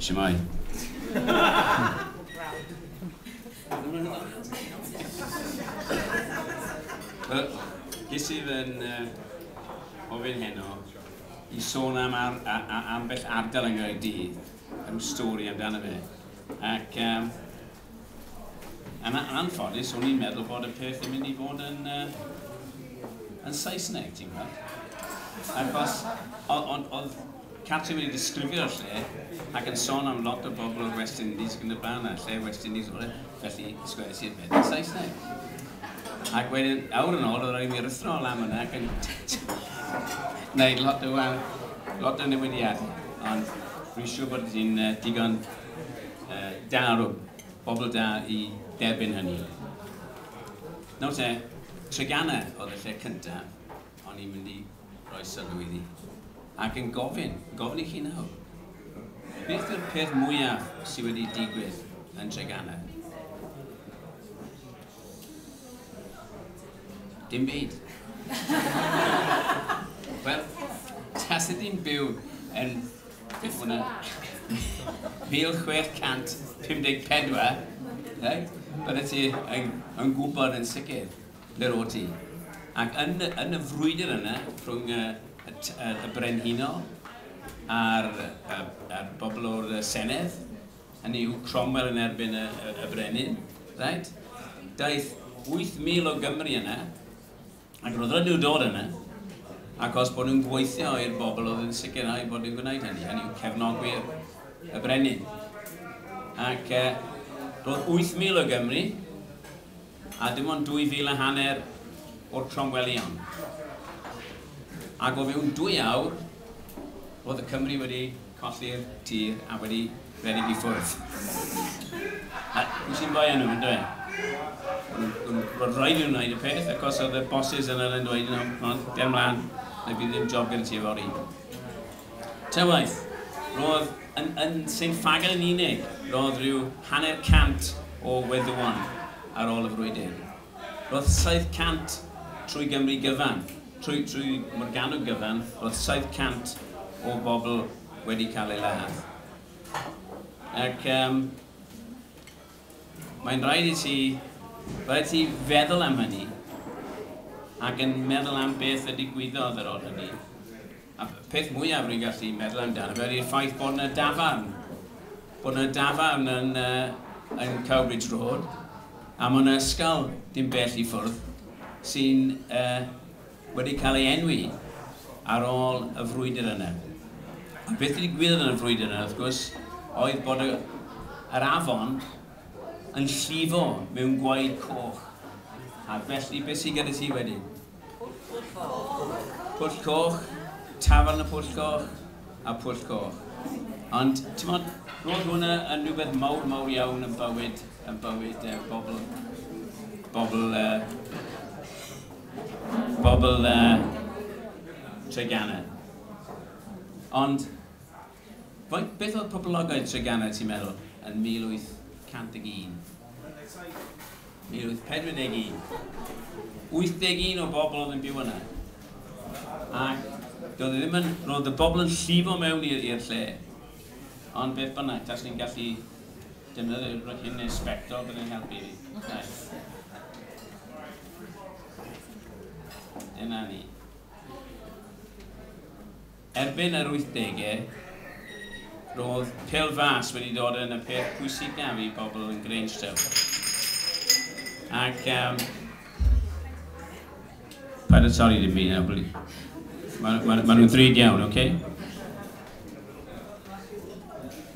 Shemai. Ges i fy'n uh, ofyn heno i sôn am ar, a, a, ambell ardal yn Gaerdydd, rhyw stori amdano fe. Ac um, Yn anffodus, o'n i'n meddwl bod y peth yn mynd i fod yn, uh, yn Saesneg, ti'n gwybod? Achos, oedd Catrin wedi disgrifio'r lle ac yn sôn am lot o bobl o'r West Indies ac yn y blaen, a lle West Indies oedd e, felly sgwrs i'r beth yn Saesneg. Ac wedyn, awr yn ôl, oedd rhaid mi rythro lan yna ac yn gwneud lot o, lot o newidiadau. Ond rwy'n siŵr bod ti'n uh, digon da o bobl da i derbyn hynny. Nawr te, Treganna oedd y lle cyntaf o'n i'n mynd i roi sylw iddi. Ac yn gofyn, gofyn i chi nawr, beth yw'r peth mwyaf sydd wedi digwydd yn Treganna? Dim byd. Wel, tas ydy'n byw yn Bydd hwn yn 1654, reit? Byddet ti yn, yn gwybod yn sicr ble rôd ti. Ac yn, yn y frwydr yna, rhwng y, y, y, y brenhinol a'r, y, y bobl o'r Senedd, hynny yw Cromwell yn erbyn y, y, y brenin, right? Daeth 8,000 o Gymru yna, Ac roedd rhaid nhw dod yna, achos bod nhw'n gweithio i'r bobl oedd yn sicrhau bod nhw'n gwneud hynny, hynny yw cefnogwyr y brenin. Ac e, roedd 8,000 o Gymru, a dim ond 2,000 a hanner o'r Cromwellion. Ac o fewn dwy awr, roedd y Cymru wedi Colli'r tir a wedi rhedeg i ffwrdd. Wyt ti'n joio nhw, yn dwyt? Roedd rhaid i nhw wneud y peth, achos oedd y bosses yna yn dweud, you know, ger mlaen, neu bydd ddim job gyda ti fory. Tywaith, roedd yn, yn Saint Fagel yn unig, roedd rhyw hanner cant o weddywon ar ôl y frwydr. Roedd 700 trwy Gymru gyfan, trwy, trwy Morgannwg gyfan, roedd 700 o bobl wedi cael ei ladd. Ac um, mae'n rhaid i ti, rhaid ti feddwl am hynny, ac yn meddwl am beth y digwyddodd ar ôl hynny. A'r peth mwyaf rwy'n gallu meddwl amdano fe ydy'r ffaith bod yna dafarn. Bod yna dafarn yn, uh, yn Cowbridge Road, a mae yna ysgol dim bell i ffwrdd sy'n uh, wedi cael ei enwi ar ôl y frwydr yna. A beth wedi gwyddoedd yn y frwydr yna, wrth gwrs, oedd bod y, yr afon yn llifo mewn gwaed coch. A felly, beth sy'n gyda ti wedyn? Pwll Coch, Tafarn y Pwll Coch a Pwll Coch. Ond, ti'n modd, roedd hwnna yn rhywbeth mawr, mawr iawn yn bywyd, yn bywyd uh, bobl, bobl, uh, bobl uh, Treganna. Ond, Faint, beth oedd poblogaeth Treganna ti'n meddwl yn 1801? 1841. 81 o bobl oedd yn byw yna. Ac doedd e ddim yn, roedd y bobl yn llifo mewn i'r lle. Ond beth bynnag, tas ni'n gallu defnyddio rhywbeth hyn neu sbectol, byddai'n helpu fi. Dyna ni. Erbyn yr wythdegau, roedd pêl fras wedi dod yn y peth pwysicaf i bobl yn Grangetown. Ac um, Paid â torri dim byd nawr, bli. Mae ma, ma nhw'n ddrud iawn, oce? Okay?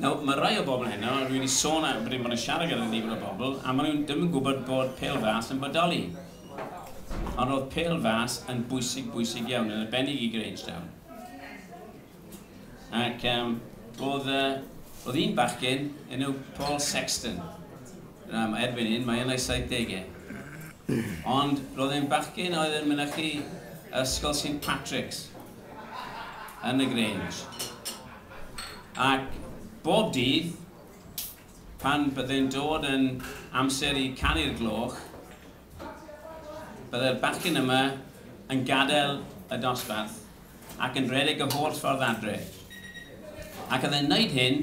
Nawr, mae rhai o bobl heno, rwy wedi sôn a bod yn siarad gyda nifer o bobl, a maen nhw ddim yn gwybod bod pêl fas yn bodoli. Ond roedd pêl fas yn bwysig, bwysig iawn, yn arbennig i Grangetown. Ac um, oedd, uh, oedd un bachgen enw Paul Sexton. Na, mae erbyn hyn, mae yn ei 70au. Ond roedd e'n bachgen oedd yn mynychu ysgol St Patrick's yn y Grange. Ac bob dydd, Pan byddai'n dod yn amser i canu'r gloch, byddai'r bachgen yma yn gadael y dosbarth ac yn rhedeg y holl ffordd adre. Ac oedd e'n wneud hyn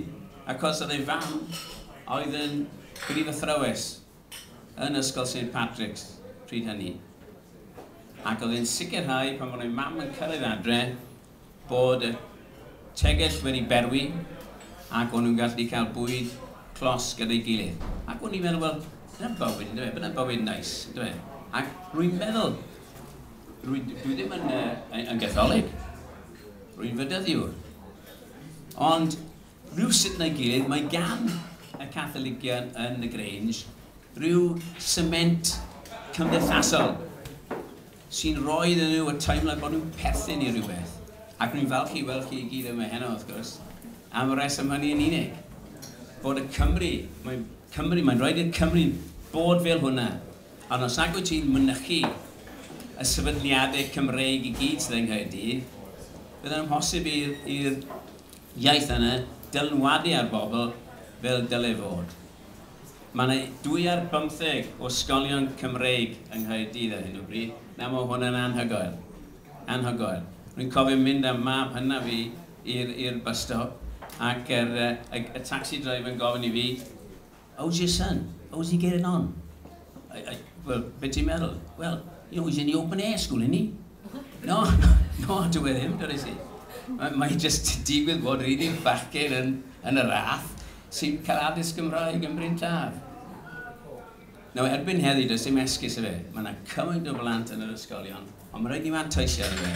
achos oedd ei fam oedd yn brif athrawes yn Ysgol Saint Patrick's pryd hynny. Ac oedd e'n sicrhau pan oedd ei mam yn cyrraedd adre, bod y tegell wedi berwi ac o'n nhw'n gallu cael bwyd clos gyda'i gilydd. Ac o'n i'n meddwl, wel, dyna bywyd, yn dweud, dyna bywyd neis, yn dweud. Ac rwy'n meddwl, rwy, dwi ddim yn, uh, yn gatholig, rwy'n fydyddiwr. Ond rhywsut neu gilydd, mae gan y Catholigion yn y Grange rhyw sement cymdeithasol sy'n rhoi iddyn nhw y teimlad bod nhw'n perthyn i rywbeth, ac rwy'n falch i weld chi i gyd yma heno, wrth gwrs, am y rheswm hynny yn unig, bod y Cymry, mae'n Cymru, mae'n rhaid i'r Cymry bod fel hwnna, ond os nag wyt ti'n mynychu y sefydliadau Cymreig i gyd sydd yng Nghaerdydd, bydd yn amhosib i'r iaith yna dylanwadu ar bobl fel dylai fod. Mae yna dwy ar bymtheg o ysgolion Cymreig yng Nghaerdydd ar hyn o bryd. Nawr mae hwn yn anhygoel. Anhygoel. Rwy'n cofio mynd â mab hynaf fi i'r i'r bus stop ac yr y y y tacsi driver yn gofyn i fi How's your son? How's he getting on? I I well, be ti'n meddwl? Well, you know, he's in the open air school, isn't he? No, no, no, dyw e ddim, dywedais i. Mae mae jyst yn digwydd bod yr un un bachgen yn yn y rath. sy'n cael addysg Gymraeg yn Bryn Taf. Nawr, erbyn heddi, does dim esgus y fe. Mae yna cymaint o blant yn yr ysgolion, ond mae rhaid i manteisio ar y fe.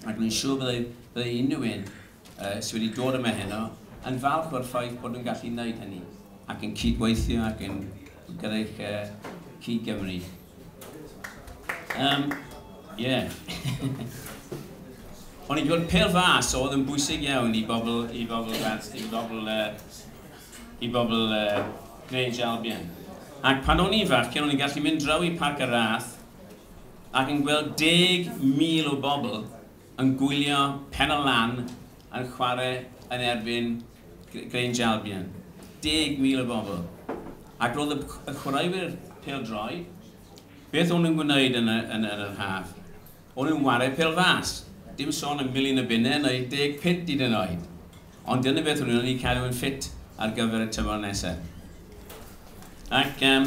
Ac mae'n siŵr byddai, byddai unrhyw un uh, sydd wedi dod yma heno yn falch o'r ffaith bod nhw'n gallu gwneud hynny ac yn cydweithio ac yn gyda'i uh, cyd-Gymru. Um, yeah. O'n i'n gweld pel fas oedd yn bwysig iawn i bobl, i bobl, i bobl, uh, i bobl uh, Grange Albion. Ac pan o'n i'n fach, cyn o'n i'n gallu mynd draw i Parc y Rath ac yn gweld deg mil o bobl Yn gwylio Penna Lan yn chwarae yn erbyn Grange Albion. Deg mil o bobl. Ac roedd y chwaraewyr pêl-droed, beth o'n nhw'n gwneud yn yr haf? O'n nhw'n chwarae pêl-fas. Dim sôn am Milin y Binne neu Deg Pit hyd yn oed. Ond dyna beth o'n nhw'n eu cadw yn ffit ar gyfer y tymor nesaf. Ac, um,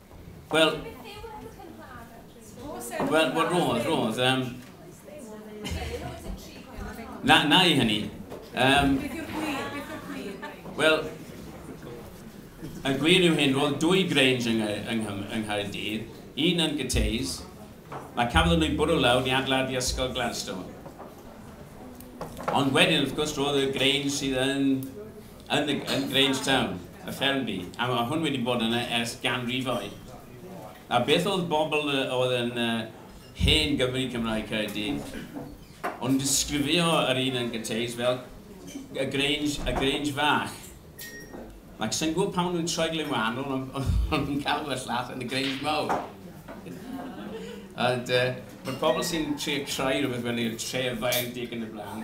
Wel, wel, wel, roedd, roedd. Um, na, na i hynny. Um, Wel, y gwir yw hyn, roedd dwy Grange yng, yng, yng Nghaerdydd, un yn Gyteis, mae cafodd nhw bwrw lawr i adlad i Ysgol Gladstone. Ond wedyn, wrth gwrs, roedd y Grange sydd yn Yn yn Grange Town, y ffermdy, a ma' hwn wedi bod yna ers ganrifoedd. A beth oedd bobl yy oedd yn yy hen Gymry Cymraeg Caerdydd, o'n nhw'n disgrifio yr un yn Gynteis fel y Grange, y Grange fach. Ac sa'n gwybod pam nhw'n troi ble wahanol, ond o'n nhw'n galw y llall yn y Grange mawr. Ond yy, mae'r pobl sy'n trio creu rhywbeth fel i'r tref faeedig yn y blaen,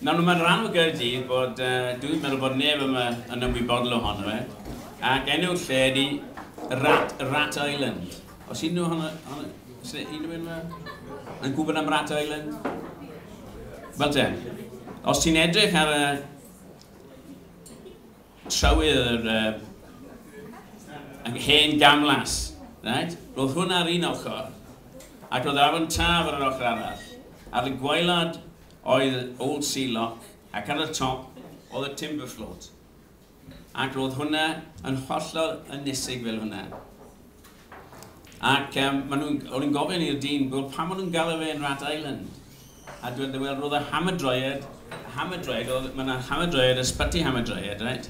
Nawr yma yn rhan o Gaerdydd bod, dw i'n meddwl bod neb yma yn ymwybodol ohono fe, ac enw'r lle ydi Rat, Rat Island. Os unrhyw ohono, ohono, os yna unrhyw un yma yn gwybod am Rat Island? Wel te, os ti'n edrych ar y trywydd yr uh, hen gamlas, right? roedd hwnna ar un ochr, ac roedd yr afon taf ar yr ochr arall, ar y gwaelod oedd Old Sea Lock ac ar y top oedd y Timber Float ac roedd hwnna yn hollol ynysig fel hwnna. Ac um, maen nhw'n, o'n i'n gofyn i'r dyn, wel, pam maen nhw'n galw fe yn Rat Island? A dwi'n dweud, wel, roedd y hamydroiad, hamydroiad, oedd, mae yna hamydroiad, ysbyty hamydroiad, right?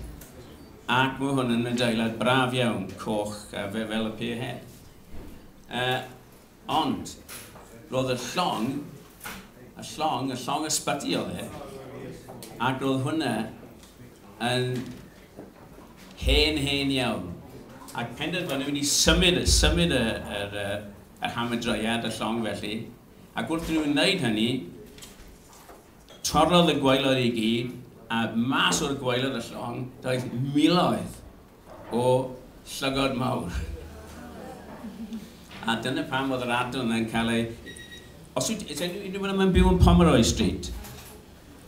Ac mae hwn yn adeilad braf iawn, coch, a fe fel y pier hen. Uh, Ond, roedd y llong, y llong, y llong ysbyty oedd e, ac roedd hwnna yn hen, hen iawn. Ac penderfynu mynd i symud, symud y, yr, yr hamedreiad, y llong felly. Ac wrth nhw'n wneud hynny, torrodd y gwaelod i gyd, a mas o'r gwaelod y llong, daeth miloedd O, llygod mawr. A dyna pam oedd yr ardal yna'n cael ei... Os yw... Is anyone yma'n byw yn Pomeroy Street?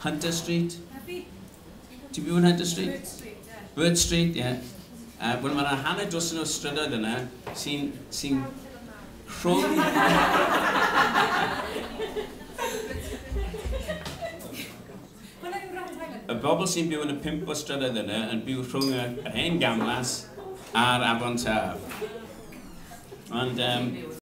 Hunter Street? Ti'n byw yn Hunter Street? Bird Street, ie. Bird Street, ie. Uh, Wel, mae yna hanner dosen o strydoedd yna sy'n... sy'n... rhwng... Y bobl sy'n byw yn y pump o strydoedd yna yn byw rhwng yr hen gamlas a'r afon Taf. Ond yym...